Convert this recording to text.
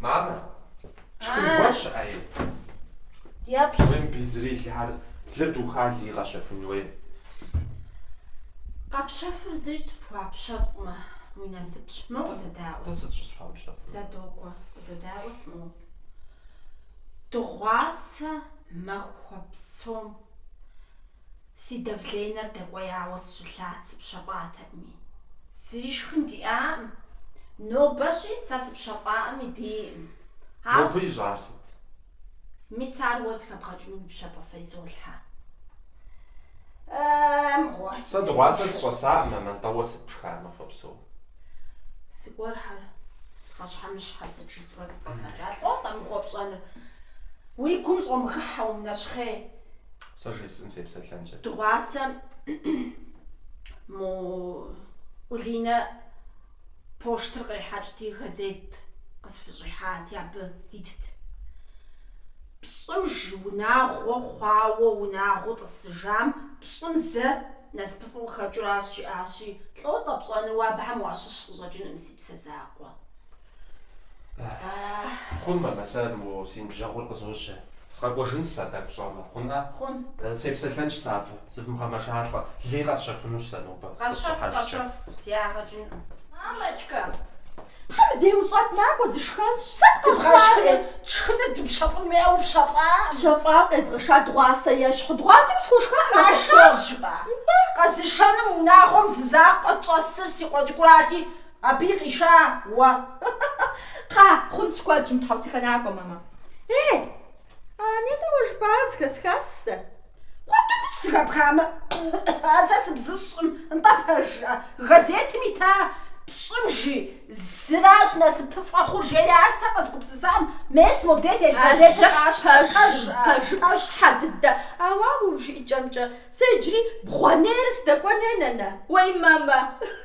Мамэ, тшхын гуэр щыӏэ? Япщ. Мыбы зыри илъ ар лыр духа, лы къэщэхун хуей. Къэпщэхур зыри щыпхуапщэфӏмэ, уи насыпщ. Моу къызэдаӏуэ. Тӏэ сыт щӏысхуамыпщэфӏыр? Зэ догуэ, къызэдаӏуэт моу. Дыгъуасэ махуэ псом. Си давленэр дэкӏуеяуэ сщылъат, сыпщэфӏатэкъыми. Зыри шхын диӏакъым. Нобэщӏи сэ сыпщэфӏакъыми, диӏэкъым. Ауэ. Мобы ищӏар сыт? Мис ар уэ зыхэбгъэкӏыну уи пщэ-тӏэ сэ изолъхьэ. Э-э, мыгъуэ. Сэ дыгъуасэ сыщӏэсакъым, а нтӏэ уэ сыт пшхар махуэ псом? Зыгуэрхэр пхъэщхьэмыщхьэ сыт жысӏурэ зыпӏэзгъэкӏа лӏо-тӏэ мыгъуэ пщӏэныр. Уи гум щӏомыгъыхьэ умынэщхъей. Сэ жесӏэн, сепсэлъэнкъэ. Дыгъуасэ мо Улинэ поштыр кърихьэкӏти, газет къысхущӏихьати, абы итт. Пщӏы жи унагъуэ хъуауэ унагъуэу тӏысыжам пщӏым зэ насыпыфӏэу къыхэкӏыу аращ, жиӏащи, лӏо-тӏэ пщӏэну уэ абыхэм уащыщ къыщӏэкӏынкъым си псэ закъуэ. Хъун, мамэ, сэ мо си ныбжьэгъур къызожьэ. Сыкъэкӏуэжынщ сэ тӏэкӏу щӏэмэ, хъунӏэ? Хъун. Сепсэлъэнщ сэ абы, зывмыгъэмэжалӏэ, лыи къэсщэхунущ сэ нобэ, сыкъыщыщӏыхьэжкӏэ. Къэщэху, къэщэху, зи ягъэ кӏынкъым. Мамочка! Хьэр дауэ ущыт, накӏуэ, дышхэнщ. Сыт къыбгъэшхри, тшхыныр дыпщэфӏын хуейӏэ упщэфӏа? Пщэфӏа къезгъэша дыгъуасэ ещхьу, дыгъуасэ усхуэшха ӏэ нэхъыфӏым? Къашащ жыпӏа? Нтӏэ. Къэзышэну мы унагъуэм зы закъуэ щӏэсыр си къуэ цӏыкӏурати, Абыи къиша уэ. Кхъа, хъунщ куэдщ умытхьэусыхэ накӏуэ, мамэ. Э, а нтӏэ уэ жыпӏар зыхэсхащ сэ. Куэду фӏыщ зыхэпхамэ, ар сэ сыбзыщӏкъым, нтӏэ пэжыӏэ, газетым ита пщӏым жи зыращ насыпыфӏэ хъур, жери ар сэ къэзгупсысакъым мес мобдей телъ газетыр къащтэ, пэжыӏэ, пэжыӏэщ щхьэ дыдэ. Ауэ уэ уи жыӏэкӏэмкӏэ, сэ иджыри бгъуэнейрэ сыдэкӏуэн хуей, нанэ. Уей, мамэ.